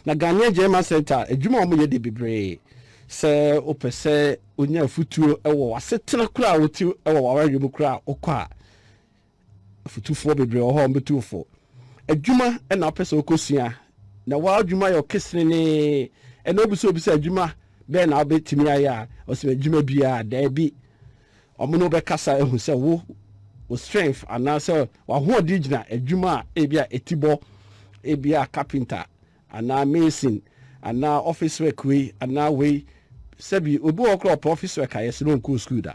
Na Ghanaian German Centre adwuma a wɔyɛ deɛ bebree sɛ wopɛ sɛ wonya afutuo wɔ w'asetena koraa a wote wɔ w'awareɛ mu koraa a wokɔ a afutufoɔ bebree wɔ hɔ a wɔbɛtu wo fo. Adwuma na wopɛ sɛ wokɔsua na w'adwuma yɛ ɔkesenenee ɛna wobu sɛ wobisa adwuma bɛn na wobɛtumi ayɛ a ɔsɛ adwuma biara daabi. Wɔne wo bɛkasa ahu sɛ wo wo strength anaasɛ w'ahoɔden gyina adwuma a ebi a eti bɔ, ebi a carpenter anaa mason anaa office work wei anaa wei. Sɛbi obi wɔ hɔ koraa ɔpɛ office work a yɛse no ɔnkɔɔ sukuu da.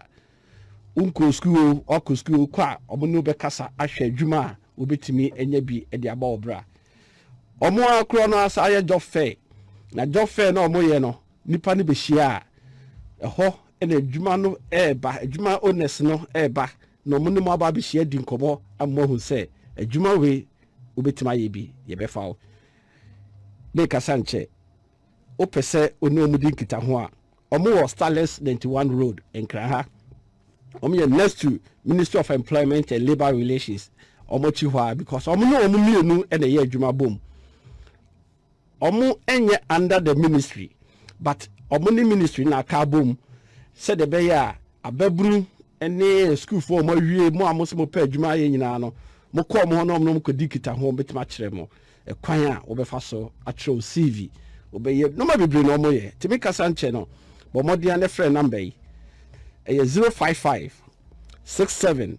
Wonkɔɔ sukuu o, wakɔ sukuu o, kɔ a wɔne wo bɛkasa ahwɛ adwuma a wobɛtumi anya bi de abɔ wo bra. Wɔn ara koraa no asan ayɛ job fair. Na job fair no a wɔyɛ no, nnipa no bɛhyia a, ɛhɔ na adwuma no reba, adwuma owners no reba na wɔn ne mo aba abɛhyia adi nkɔmmɔ ama moahu sɛ adwuma wei wobɛtumi ayɛ bi, yɛbɛfa wo. Merekasa nkyɛ wopɛ sɛ wo ne wɔn di nkitaho a, wɔn wɔ Starlets 91 Road, Nkran ha. Wɔn yɛ next to Ministry of Employment and Labour Relations. Wɔn akyi hɔ a because wɔn ne wɔn mmienu na ɛyɛ adwuma bom. Ɔmo nyɛ under the ministry but ɔmo ne ministry no aka abom sɛdeɛ ɛbɛyɛ a ababunu ne sukuufoɔ a ɔmo awie, mo a mo se mo pɛ adwuma ayɛ nyinaa no, mo kɔ ɔmo hɔ na ɔmo ne ɔmo kɔdi nkitaho, ɔmo bɛtumi akyerɛ mo ɛkwan a wobɛfa so atwerɛ wo CV, wobɛyɛ nnoɔma bebree na ɔmo yɛ. Nti me kasa nkyɛ no, bɔ mmɔden ara na frɛ number yi, ɛyɛ zero five five six seven.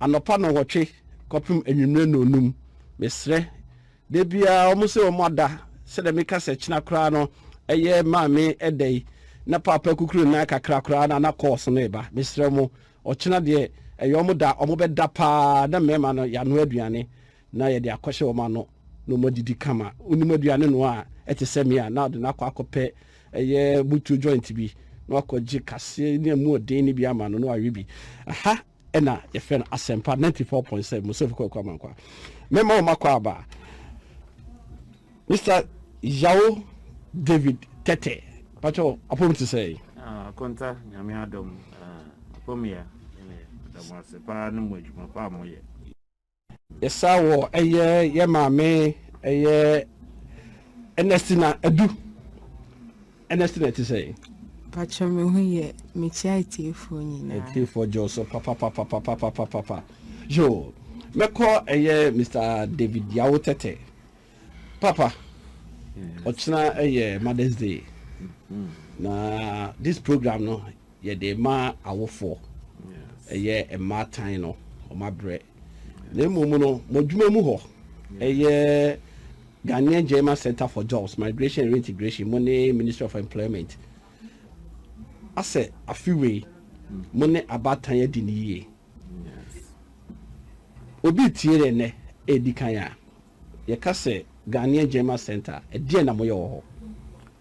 Anɔpa nnɔnwɔtwe kɔpem anwummere nnɔnnum. Mesrɛ. Da biara wɔn sɛ wɔn ada, sɛdeɛ meka sɛ kyena koraa no ɛyɛ Maame ɛda yi, na Paapa akukuru ne nan kakra koraa na na calls no reba. Mesrɛ mo, ɔkyena deɛ ɛyɛ wɔn da, wɔbɛda paa na mmarima no yɛanoa aduane. na yɛde akɔhyɛ wɔn ano na wɔadidi kama. Wonim aduane noa a ɛte sɛ me a, na ɔde no akɔ akɔpɛ ɛyɛ mutuo joint bi na wakɔgye kaseɛ ne ɛmu ɔden no bi ama no na wawe bi. Ɛha ɛna yɛfrɛ no Asɛmpa 94.7 Mosefo Kwaku Amankwa. Mɛma wɔn akɔ aba. Mister Yao David Tɛtɛ, patwɛ apɔm te sɛ yi. Akonta, nyame adom, apɔm yɛ, yɛda mo ase paa ne mo adwuma pa a moyɛ. Yɛsa wɔ ɛyɛ yɛ maame ɛyɛ Ernestina Adu. Ernestina ti sɛn? Pakyɛ me ho yɛ mekyia atiefoɔ nyinaa. Atiefoɔ gyɔ so papapapapapapapa. Yo, mɛkɔ ɛyɛ Mr. David Yawo Tɛtɛ. Papa, ɔkyena ɛyɛ Mother's Day. Na this program no Yɛde ma awofoɔ, ɛyɛ mmaatan no wɔn abrɛ. Na mmom no, mo adwuma mu hɔ, ɛyɛ Ghanaian German Centre for Jobs, Migration and Reintegration, mo ne Ministry of Employment, asɛ afe wei mo ne abaatan adi no yie. Obi retie yɛn nnɛ ɛredi kan a, yɛka sɛ Ghanaian German Centre, ɛdeɛn na moyɛ wɔ hɔ?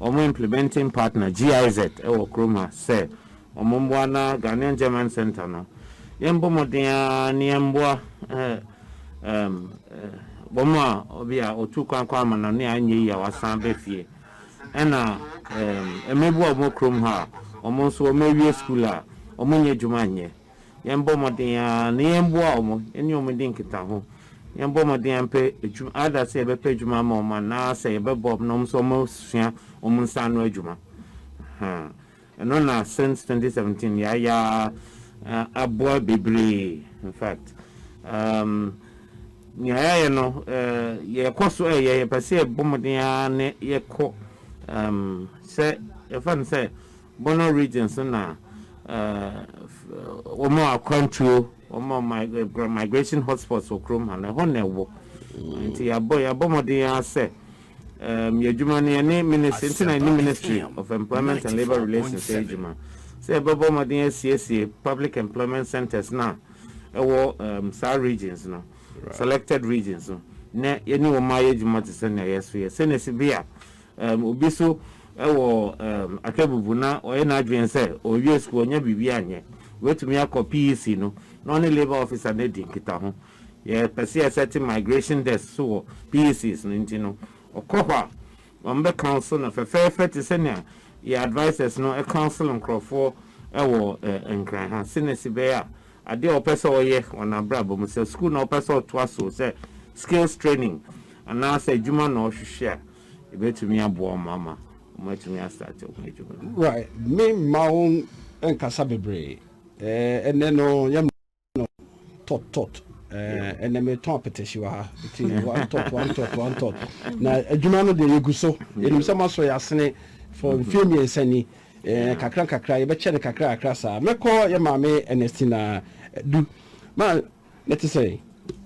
Wɔn implementing partner GIZ wɔ Kroma sɛ wɔn mmoa na Ghanaian German Centre no, yɛn bɔ mmɔden ara na yɛn mmoa wɔn a obi a ɔtuu kwan kɔ amannɔne a ɛnyɛ yie a wasan aba fie, ɛna mmabua a wɔn wɔ kurom ha a wɔn nso wɔn awie sukuu a wɔn nyɛ adwuma nyɛ. Yɛmbɔ mmɔden ara na yɛmboa wɔn, yɛne wɔn ndi nkitaho. Yɛmbɔ mmɔden ara mpɛ adwuma, either sɛ yɛbɛpɛ adwuma ama wɔn anaasɛ yɛbɛboa wɔn na wɔn nso wɔasua wɔn nsa ano adwuma. Ahaa. Ɛno na since twenty seventeen yɛayɛ ara, na aboa bebree. In fact, um, nea yɛayɛ no, eh, yɛkɔ so ɛyɛ, yɛpɛ sɛ yɛbɔ mmɔden ara na yɛkɔ, um, sɛ yɛfa no sɛ Bono region so na wɔn a akwantuo, wɔn a wɔn migration hotspots wɔ kurom ha no, ɛhɔ na ɛwɔ. Nti yɛabɔ yɛabɔ mmɔden ara sɛ um, yɛ adwuma no yɛne ministry nti na yɛne ministry of employment and labour relations yɛ adwuma sɛ yɛbɛbɔ mmɔden asiesie public employment centres no a ɛwɔ um, saa regions no selected regions no na yɛne wɔn ayɛ adwuma te sɛ nea yɛso yɛ sɛnea si bi a Um, obi so wɔ um, Akebubu na ɔyɛ n'adwene sɛ ɔrewie sukuu ɔnyɛ biribi anyɛ. Wetumi akɔ PEC no na ɔne labour officer no adi nkitaho. Yɛpɛ sɛ yɛsɛte migration desk so wɔ PECs no nti no, ɔkɔ hɔ a, wɔbɛ counsel no fɛfɛɛfɛ te sɛnea yɛn advisers no counsel nkurɔfoɔ wɔ eh, Nkran ha, sɛnea ɛsi bɛyɛ a Adeɛ a ɔpɛ sɛ ɔyɛ wɔ n'abrabɔ mu, sɛ sukuu na ɔpɛ sɛ ɔtoa so, sɛ skills training anaa sɛ adwuma na ɔhwehwɛ a, yɛbɛtumi aboa wɔn ama wɔatumi astate wɔn adwuma no. Right, me mma wo nkasa bebree eh, ɛnɛ no yɛm no tot tot eh, ɛnɛ me tɔn apetehye wɔ ha, ti one tot one tot one tot, na adwuma no deɛ yɛgu so, yɛnim sɛ moasɔ yɛ asene for mfie mmiɛnsa ni, Ɛɛ, kakrankakra, yɛbɛkyɛ no kakrankakra saa. Mɛkɔ yɛn maame Ernestina Du. Ma, ne te sɛn?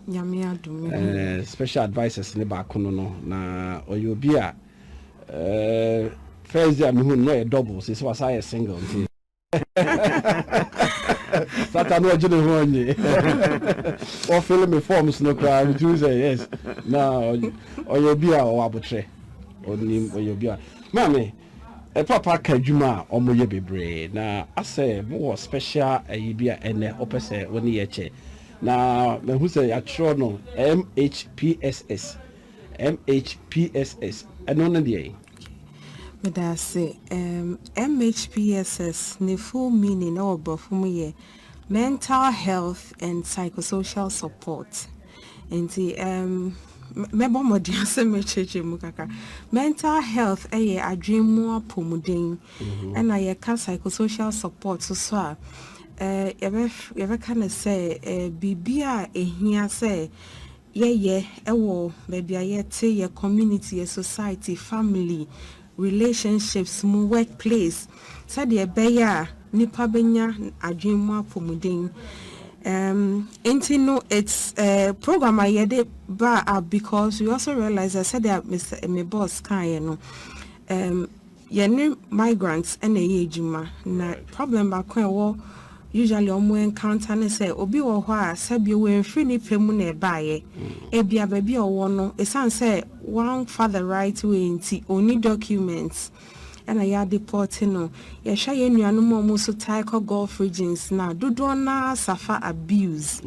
Nyame adom, me ho ye. Ɛɛ, special advisers no baako no no, na ɔyɛ obi a, ɛɛ, first day a mehuu no, na ɔyɛ double, seesei wasan ayɛ single, nti. Satan no ɔgye ne ho ɔnye. Wɔfele me forms no koraa, metumi sɛ yes. Na ɔyɛ obi a ɔwɔ abotrɛ. Ɔnim, ɔyɛ obi a. Maame. Papa ka adwuma a ɔmo yɛ bebree na asɛ mo wɔ special ayi bi a ɛnɛ wopɛ sɛ wo ne yɛ kyɛ na mahu sɛ yatwerɛ no MHPSS MHPSS ɛno ne deɛn? Medase ehm MHPSS ne full meaning wɔ brɔfo mu yɛ mental health and psychosocial support. Nti um, mɛbɔ mmɔden sɛ mɛkyerɛkyerɛ mu kakra mental health ɛyɛ adwene mu apɔmuden mhm. ɛna yɛka psychosocial support so so a eh, yɛbɛka no sɛ eh, biribi a ɛhia sɛ yɛyɛ ɛwɔ baabi a yɛte yɛ community yɛ society family relationships mu, workplace, sɛdeɛ ɛbɛyɛ a nnipa bɛnya adwene mu apɔmuden. Um, enti no, it's a program a yɛde baa up because we also realize that sɛdeɛ Mr. me boss kaeɛ no, um, yɛne migrants ɛna ɛyɛ adwuma na problem baako a ɛwɔ usually ɔmo encounter ne sɛ obi wɔ hɔ a sɛbi wɔmfiri ne pɛ mu na ɛbaeɛ ebia baabi a ɔwɔ no ɛsiane sɛ wamfa the right way nti ɔnni documents ɛna yɛ adepɔɔte no. Yɛhwɛ yɛn nuanom a wɔn nso tae kɔ Gulf regions no a, dodoɔ no ara suffer abuse.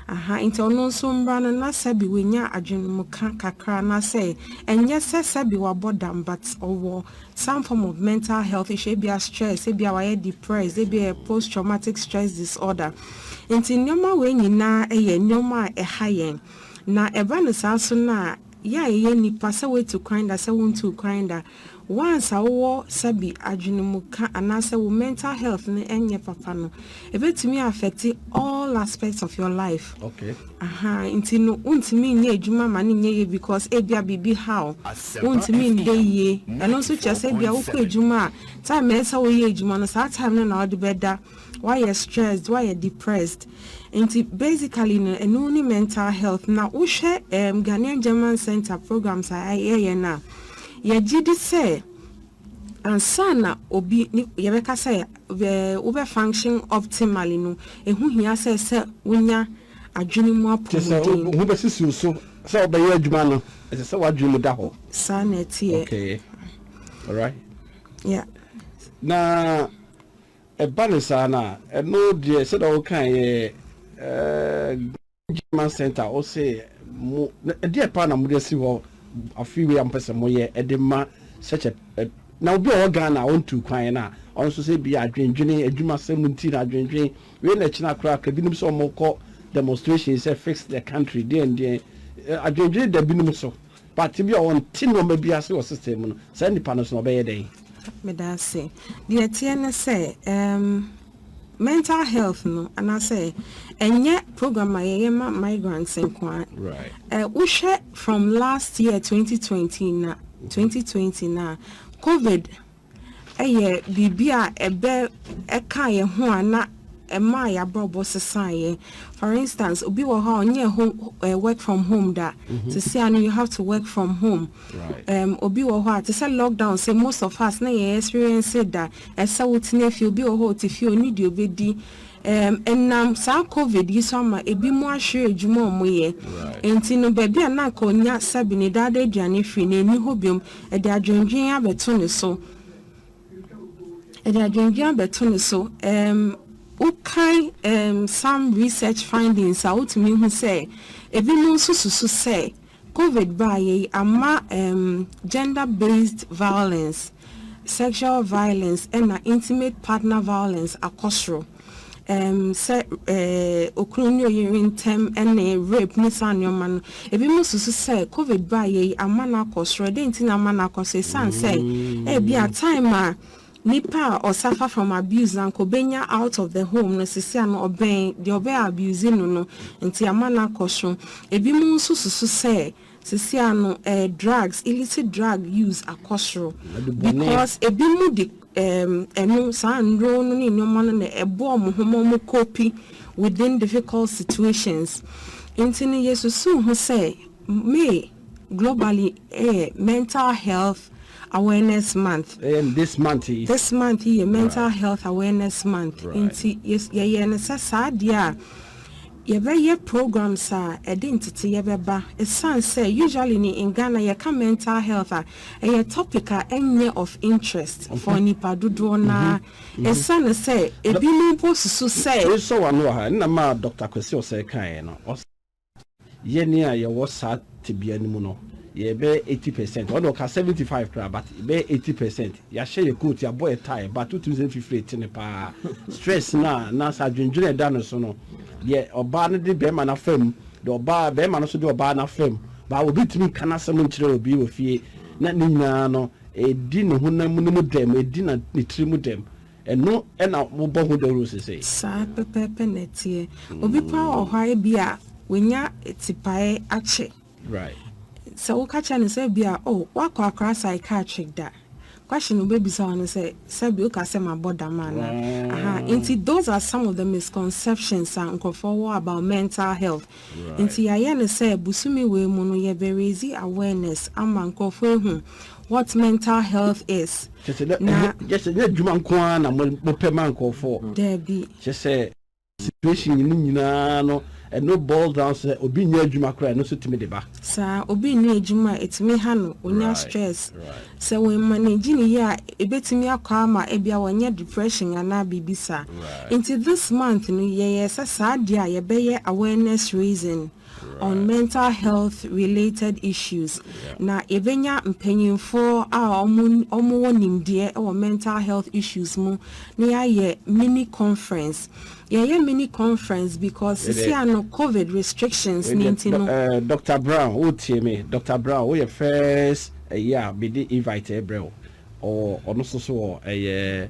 Aha, nti ɔno nso mmra no na sɛbi wanya adwenemka kakra anaasɛ ɛnyɛ sɛ sɛbi wabɔ dam but ɔwɔ some form of mental health issue, ebia stress, ebia wayɛ depressed, ebia ɛyɛ post traumatic stress disorder. Nti nneɛma wei nyinaa yɛ nneɛma a ɛha yɛn. Na ɛba no saa so no a, yɛ a yɛyɛ nnipa, sɛ woatu kwan da, sɛ wontuu kwan da, once a wowɔ sɛbi adwene mu ka anaasɛ wo mental health no ɛnyɛ papa no, ɛbɛtumi a affect all aspects of your life. Okay. Aha, nti no wontumi nyɛ adwuma ma no nyɛ yie because ebia biribi ha wo, wontumi nda yie. Ɛno nso kyerɛ sɛ ebia wokɔ adwuma a, time a ɛsɛ sɛ woyɛ adwuma no, saa time no na wode bɛda. Wayɛ stressed, wayɛ depressed. Nti basically no ɛno ne mental health. Na wohwɛ ɛɛm Ghanaian German Centre programs a yɛyɛ no a, yɛgye di sɛ ansa na obi ne yɛbɛka sɛ bɛ wobɛ function optimally no, ɛho hia sɛ sɛ wonya adwene mu Te sɛ wo apɔmuden. wo ho bɛsisi wo so sɛ wobɛyɛ adwuma no, ɛsɛ sɛ w'adwene mu da hɔ. Saa na ɛteɛ. Okay. Alright. Yeah. Na. Ɛba no saa no a, ɛno deɛ sɛdeɛ wokaeɛ eh, German Center wo se mo ɛdeɛ paa na mode asi hɔ afei wei a mopɛ sɛ moyɛ ɛde ma such a na obi a ɔwɔ Ghana a ɔntu kwan no a ɔno nso sɛ bi adwendwene adwumasɛm nti na adwendwen wei na ɛkyena koraa ka binom sɛ ɔmokɔ demonstration sɛ fix the country deɛn deɛn adwendwene da binom so But ebia ɔnte nnoɔma bi ase wɔ system mu no, saa nipa no nso no ɔbɛyɛ dɛn? Meda ase. Deɛ ɛteɛ ne sɛ, um, mental health no, anaasɛ ɛnyɛ program a yɛyɛ ma migrants nko ara. Right. Eh, wohwɛ from last year 2020 na 2020 na COVID yɛ biribi a ɛbɛ ɛkaa yɛn ho a na ɛmaa yɛn abrabɔ sesaa yɛn. For instance, obi wɔ hɔ a ɔnyɛ home ɛɛ work from home da. Mm-hmm. Sisi ano you have to work from home. Right. Um, obi wɔ hɔ a te sɛ lockdown sɛ most of us na yɛn experience da ɛsɛ wotena fie obi wɔ hɔ ɔte fie ɔni deɛ ɔbɛdi. Um, ɛnam saa covid yi so ama ebi mu ahwere adwuma a wɔyɛ. Right. Nti no baabi a na nka ɔnya sɛbi ne dada aduane firi na ɛni hɔ biom. Ɛde adwendwen abɛto ne so, ɛde adwendwen abɛto ne so. Um, wokan um, some research findings a wotumi hu sɛ ebinom nso susu sɛ covid baayɛ yi ama um, gender based violence sexual violence ɛna intimate partner violence akɔ soro. um sɛ um okunu ne oyere ntam ne rape ne saa nneɛma no. Ebinom susu sɛ covid baeɛ yi ama no akɔ soro. Ɛdɛn nti na ama no akɔ soro? Ɛsiane sɛ ebi a time a nipa a ɔsafa from abuse na nka obenya out of the home no sisi ano ɔbɛn deɛ ɔbɛ abuse no no nti ama no akɔ soro. Ebinom nso susu sɛ Sisi ano eh drugs illicit drug use akɔ soro because ebi mo de ehm ɛno saa nnuro no ne nnoɔma no na ɛboa ɔmo ho ma ɔmo cope within difficult situations nti no yɛ susu ho sɛ May globally ɛyɛ mental health awareness month this month yi this month yi yɛ mental health awareness month nti yɛ yɛyɛ no sɛ saa deɛ a. Yɛbɛyɛ programs a ɛde nteteyɛ bɛba ɛsiane sɛ usually no in Ghana yɛka mental health a ɛyɛ topic a ɛnyɛ of interest for nnipa dodoɔ no ara ɛsiane sɛ ɛbinom mpo susu sɛ. Mesɔ w'ano wɔ ha, nna ma Doctor Kwesi Osei kaeɛ no, ɔse yɛn a yɛwɔ saa tebea no mu no yɛbɛyɛ eighty percent, ɔno ɔka seventy five koraa but yɛbɛyɛ eighty percent Yɛahyɛ yɛn coat, yɛabɔ yɛn tie, but wotumi sɛ mfifire retene paa. Stress no a na sɛ adwendwene a ɛda no so no, deɛ ɔbaa no de barima no afa mu, deɛ ɔbaa, barima no nso de ɔbaa no afa mu, but obi ntumi nka n'asɛm nkyerɛ obi wɔ fie. Na ne nyinaa no, ɛdi ne honam no mu dɛm, ɛdi na, ne tiri mu dɛm. Ɛno na wɔbɔ ho dawuro seesei. Saa pɛpɛɛpɛ na ɛteɛ. Obi koraa wɔ hɔ a, ebia wanya tipaeɛ akyɛ. Sɛ woka kyerɛ no sɛ ebia, Oh, woakɔ akora psychiatric da? Question a obebisa wo ne sɛ, Sɛbe woka sɛ mabɔ dam anaa? Ahaa. Enti those are some of the misconceptions a nkurɔfoɔ wɔ about mental health. Enti yɛayɛ no sɛ bosome wei mu no yɛbɛ raise awareness ama nkurɔfoɔ ahu what mental health is. Na. Kyerɛ sɛ ɛnyɛ adwuma nko ara na mopɛ ma nkurɔfoɔ. Daabi. Kyerɛ sɛ. situation no nyinaa no ɛno boils down sɛ obi nyɛ adwuma koraa ɛno nso tumi de ba. Saa, obi nni adwuma a ɛtumi ha no, ɔnya stress. Sɛ wo manage no yie a ɛbɛtumi akɔ ama ɛbia wanya depression anaa biribi saa. Nti this month no yɛyɛɛ sɛ saa deɛ a yɛbɛyɛ awareness raising. on mental health related issues na yɛbɛnya mpanyimfoɔ a wɔn wɔ nimdeɛ wɔ mental health issues mu na yɛayɛ mini conference yɛyɛ mini conference because sisi ano covid restrictions ne nti no. Doctor Brown wo tie me Doctor Brown wo yɛ first ɛyi a me de invite ɛbrɛ wo ɔwɔ ɔno soso wɔ ɛyɛ.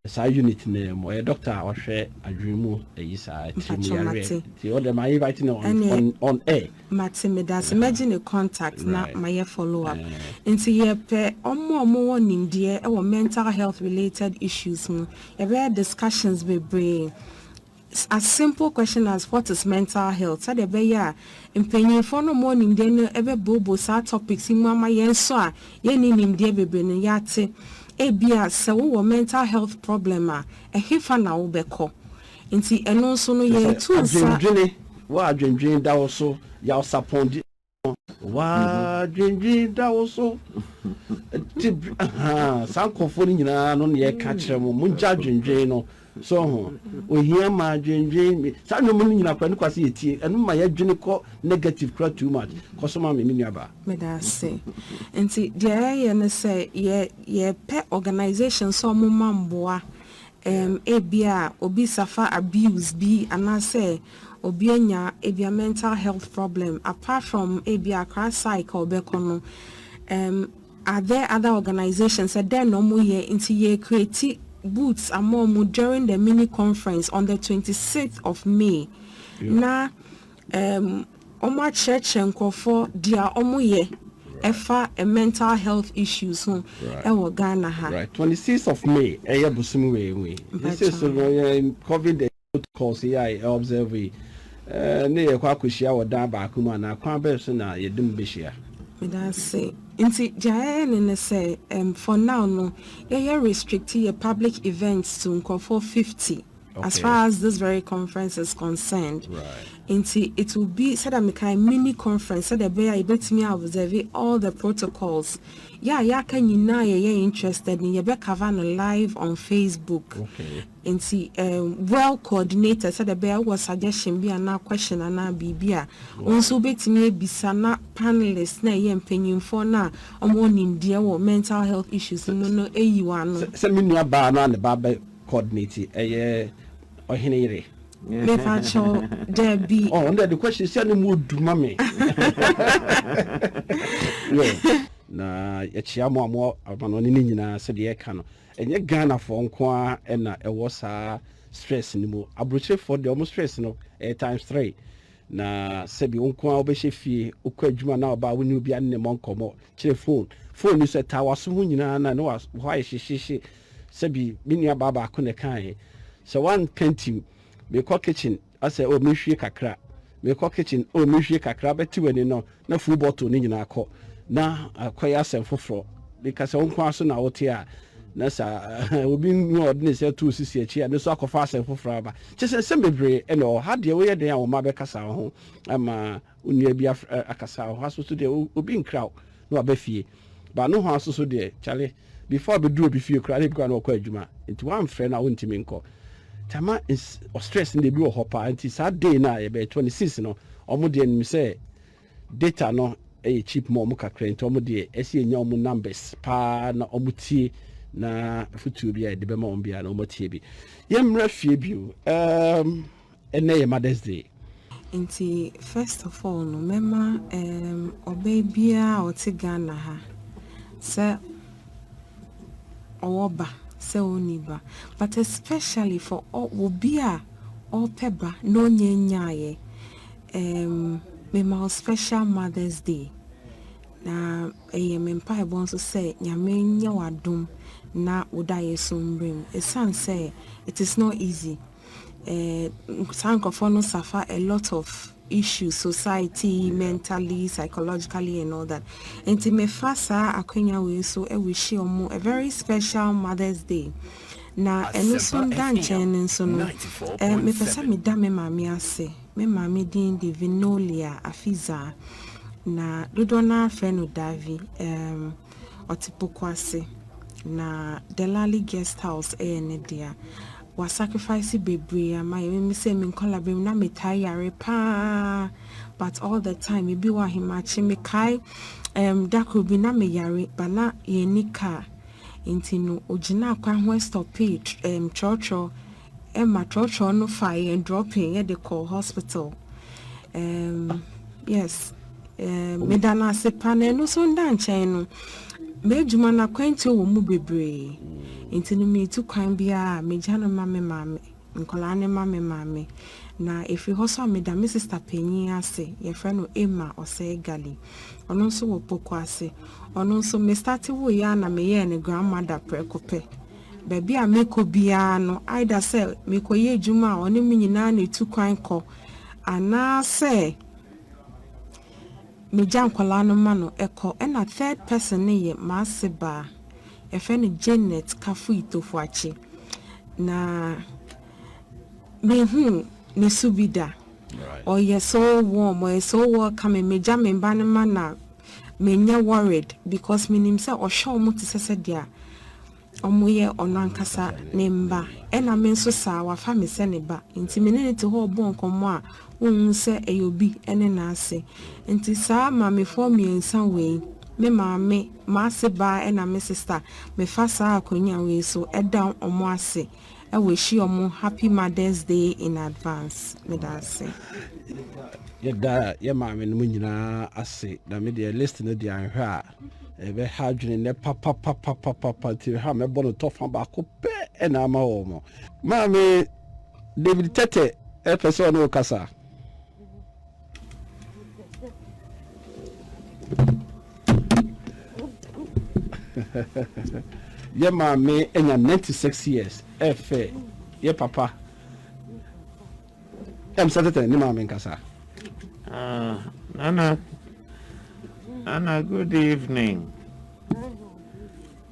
Saa unit no mu ɔyɛ doctor a ɔhwɛ adwene mu ayi saa tiri mu yareɛ nti ɔdɛ ma invite no on on on air. Mate medase mɛgye ne contact na mayɛ follow up nti yɛpɛ ɔmo a ɔmo wɔ nimdeɛ ɛwɔ mental health related issues mu yɛbɛyɛ discussions bebree It's as simple question as what is mental health? Sɛdeɛ ɛbɛyɛ a mpanyinfoɔ no a wɔwɔ nimdeɛ no bɛbooboo saa topics yi mu ama yɛn nso a yɛnni nimdeɛ bebree no yɛate. Ebia sɛ wowɔ mental health problem a, ɛhefa na wobɛkɔ? Nti ɛno nso no Te sɛ yɛretu nsa. adwendwene, w'adwendwene da wo so, yaw sapɔn di. no. W'adwendwen da wo so. Nti saa nkurɔfoɔ no nyinaa no na yɛka kyerɛ mo mo ngya adwendwen no so ho ohia ma adwendwen saa nnwom no nyinaa kora ne kwa sɛ yɛtie ɛno ma yɛdwene kɔ negative kora too much kɔ so ma me me nuabaa. Meda ase. Nti deɛ yɛyɛ ne sɛ yɛ yɛpɛ organisation sɛ wɔn ma mboa Um, ebia obi suffer abuse bi anaasɛ obi anya ebia mental health problem, apart from ebia Accra psych a ɔbɛkɔ no, um, are there other organisations, sɛ dɛn na ɔmo yɛ, nti yɛ create booths ama ɔmo during the mini conference on the twenty sixth of May, na um, Wɔakyerɛkyerɛ nkorɔfoɔ deɛ wɔyɛ ɛfa mental health issues ho ɛwɔ Ghana ha. Right twenty six of May ɛyɛ bosome wei mu yi yɛsɛ so no yɛ covid protocols yi a yɛ observe yi ɛɛ ne yɛkɔ akɔhyia wɔ dan baako mu anaa kwan bɛn so na yɛde mo bɛhyia. Medase nti deɛ yɛyɛ ne ne sɛ ɛɛm for now no yɛyɛ restrict yɛ public events to nkorɔfoɔ fifty. as far as this very conference is concerned nti it will be sɛdeɛ mekae mini conference sɛdeɛ ɛbɛyɛ a yɛbɛtumi a observe all the protocols yɛ a yɛaka nyinaa yɛyɛ interested no yɛbɛcover no live on facebook nti um, well coordinated sɛdeɛ ɛbɛyɛ wowɔ suggestion bi anaa question anaa biribi a wo nso wobɛtumi abisa na panelist na ɛyɛ mpanyimfoɔ no a ɔmɔ nimdeɛ wɔ mental health issues mu no ɛyi wɔ ano sɛ me nua baa no a ne ba bɛ coordinate ɛyɛ ɔhene yere. mefa kyɛw dabi. ɔn dɛ the question sɛ ne mu odu ma me. na yɛkyea mo a mo amanɔne no nyinaa sɛdeɛ ɛka no ɛnyɛ ghanafoɔ nko a ɛna ɛwɔ saa stress no mu aburokyerefoɔ deɛ ɔmo stress no ɛyɛ times three na sɛbi wo nko a wobɛhyɛ fie wokɔ adwuma na ɔbaa wo ne obi ane ne mmɔ nkɔmmɔ kyerɛ phone phone ni so ɛtaa waso ho nyinaa na ne hɔ ayɛ hyehyehye Sɛbi me nua baa baako na ɛkaeɛ, sɛ woankantim, mekɔ kitchen, asɛ oh menhwie kakra, mekɔ kitchen, oh menhwie kakra, wobɛte w'ani no na full bottle no nyinaa kɔ, na akɔyɛ asɛm foforɔ. Meka sɛ wo nko ara so na wote a, na sɛ obi nni hɔ a ɔde ne nsa to wo sisi akyi a, no nso akɔfa asɛm foforɔ aba. Kyerɛ sɛ, nsɛm bebree na ɛwɔ hɔ. Ha deɛ woyɛ dɛn a wo mma bɛkasa wo ho ama Onua bi afrɛ akasa ɔha so so deɛ obi nkra wo na waba fie but nohoa so so deɛ kyale before abɛduru obi fie koraa na ebi koraa na ɔkɔ adwuma nti wamfrɛ no a wontumi nkɔ nti ama ɔstress no deɛ ebi wɔ hɔ paa nti saa day no a yɛbɛyɛ 26 no ɔmo deɛ nim sɛ data no ɛyɛ cheap ma ɔmo kakra nti ɔmo deɛ ɛsɛ yɛnya ɔmo numbers paa na ɔmo tie na afutuo bi a yɛde bɛma ɔmo biara na ɔmo atie bi yɛmmra fie bio um, Ɛnnɛ yɛ Mother's Day. Nti first of all no mɛma um, ɔbaa biara a ɔte Ghana ha sɛ ɔwɔ ba sɛ ɔnni ba but especially for obi a ɔpɛ ba na ɔnyɛ nyaayɛ um, mema wo special Mother's Day na ɛyɛ me mpaebɔ nso sɛ nyame nyɛ w'adom na wo dayɛ so mmerɛ mu ɛsiane sɛ it is not easy eh, saa nkurɔfoɔ no suffer a lot of issues society mentally psychologically and all that nti mefa saa akwanya wei so ɛwehye ɔmo a very special mother's day na ɛno so da nkyɛn no nso no eh, mepɛ sɛ meda me maame ase me maame din de vinolia afizaa na dodoɔ no ara frɛ no davi um, Ɔte poko ase na Delali guest house ɛyɛ ne dea. Wa sacrifice bebree ama yɛn. Meme sɛ me nkɔla bere mu na me taa yare paa but all the time ebi wɔ ahemakye me kae um, da koro bi na me yare but na yɛn ni kaa nti no ogyina akwan ho ɛstɔpee um, trɔtrɔ. Emma twerɛtwerɛ no fa yɛn dropping yɛde kɔ hospital um, yes um, meda no ase pa na ɛno so nda nkyɛn no m'adwuma no akwantuo wɔ mu bebree nti no metu kwan biara megya no ma me maame nkwadaa no ma me maame na ɛfiri hɔ so a meda me sista panyin ase yɛfrɛ no Emma ɔsɛe gali ɔno nso wɔ poko ase ɔno nso me starte woyɛ a na meyɛɛ ne grandmother prɛko pɛ Baabi a mekɔ biara no, either sɛ merekɔyɛ adwuma a ɔne me nyinaa na ɛtu kwan kɔ, anaasɛ megya nkwadaa no ma no kɔ. Ɛna third person no yɛ m'asebaa, yɛfrɛ no Janet Kafui Tofuakye. Na menhuu ne su bi da. Ɔyɛ so warm, ɔyɛ so welcoming, megya me mma no ma no a, Menyɛ worried because menim sɛ ɔhwɛ ɔmo te sɛ sɛdea ɔmo yɛ ɔno ankasa ne mma ɛna me nso saa wafa me sɛ ne ba nti me ne no te hɔ ɔbɔ nkɔmmɔ a wonhu sɛ ɛyɛ obi ne n'ase nti saa maamefoɔ mmiɛnsa wei me maame, m'ase baa ɛna me sister mefa saa akonwa wei so ɛda ɔmo ase. w'ahyia ɔmo happy mother's day in advance meda ase. yɛda yɛ maame no mu nyinaa ase na me deɛ list no deɛ anhwɛ a ɛbɛha adwene nnɛ papapapapapa nti ha mɛbɔ no tɔfa baako pɛ ɛna ama wɔ mo maame david tɛtɛ ɛpɛ sɛ ɔne wo kasa yɛ maame anya 96 years ɛfɛ yɛ papa ɛm sɛ tɛtɛ ne maame nkasa ah, nana nana good evening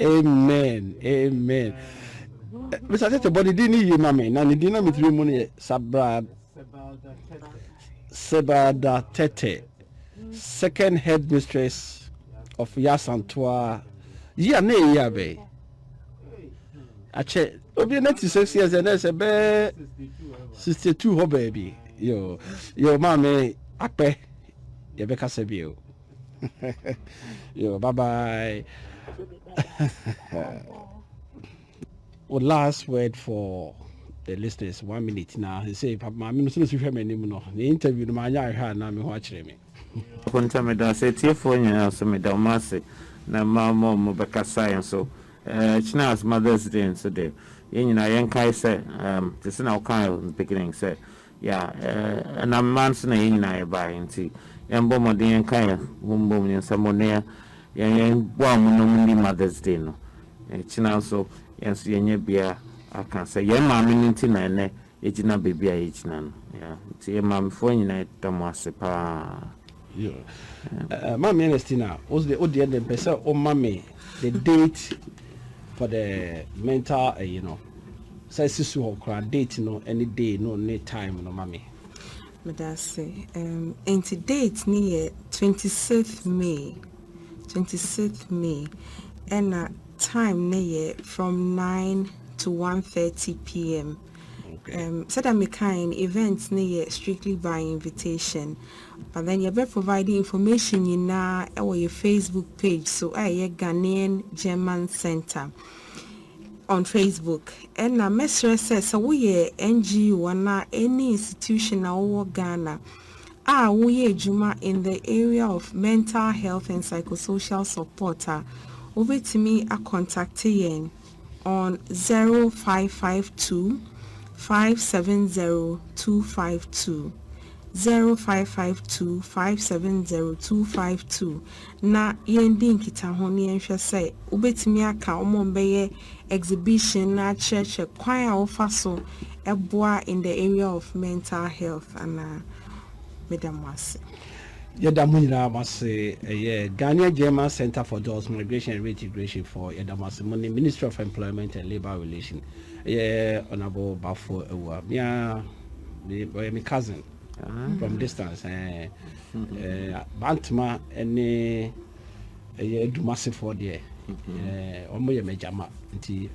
amen amen mesa tete bɔ ne din ne yie ma me na ne din na metiri mu no yɛ sabra sebada tete second head mistress of yasantoa yi a na ɛyi abɛn akyɛ obi na ti six years ɛnɛ sɛ bɛɛ sixty two hɔ baabi yo yo maame akpɛ Yɛbɛkasa bio. Yo, bye bye. well, last word for the listeners one minute na sɛ maame no sɛ hwɛ m'anim no ne interview no maanyɛ ahwɛ a na me ho akyerɛ me konta meda ase atiefoɔ nyinaa nso meda ɔmo ase na mma ɔmo ɔmo bɛkasae nso kyena as mothers day nso de yɛn nyinaa yɛnkae sɛ te sɛ na wokae beginning sɛ Yeah, ɛnam mma nso na yɛn nyinaa yɛbaeɛ nti, yɛmbɔ mmɔden yɛnka yɛn ho mbom yɛn nsa mu, na yɛn yɛmboa wɔn na wɔnni Mother's Day no. Ɛkyena nso, yɛn nso yɛnyɛ bia aka sɛ yɛn maame no nti na ɛnnɛ yɛgyina baabi a yɛgyina no. Yeah, nti yɛn maamefoɔ nyinaa yɛda mo ase paa. Yoo Maame Ernestina wo deɛ wo deɛ deɛ mpɛ sɛ wo ma me the date for the mental ɛyi no sɛ ɛsi so hɔ koraa date no ɛne day no ne time no ma me. Medase um enti date ne yɛ 26th May 26th May ɛna time ne yɛ from 9 to 1:30 pm. Um, sɛdeɛ mekae no, event no yɛ strictly by invitation. But then yɛbɛ provide information nyinaa ɛwɔ yɛ Facebook page so a ɛyɛ Ghanaian German Center on Facebook. Ɛna mɛsrɛ sɛ sɛ woyɛ NGO anaa any institution a wowɔ Ghana a woyɛ adwuma in the area of mental health and psychosocial support a wobɛtumi akɔntakte yɛn on 0552 570252, 0552 570252, na yɛndi nkitaho na yɛnhwɛ sɛ wobɛtumi aka wɔn a wɔbɛyɛ exhibition no akyerɛkyerɛ kwan a wɔfa so boa in the area of mental health anaa. Meda mo ase. Yɛda mo nyinaa mo ase, ɛyɛ Ghanea German Centre for Dɔɔso Migration and Reintegration foɔ, yɛda mo ase, mo ne Ministry of Employment and Labour Relation, ɛyɛ Honourable Bafo Awuah, me ara, me, ɔyɛ me cousin, from distance, ɛɛ, ɛɛ, Bantama ne ɛyɛ Adumasefoɔ deɛ, ɛɛ, wɔn yɛ m'agyama, nti,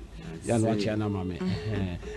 yɛa na wakyea no ama me, ɛhɛn.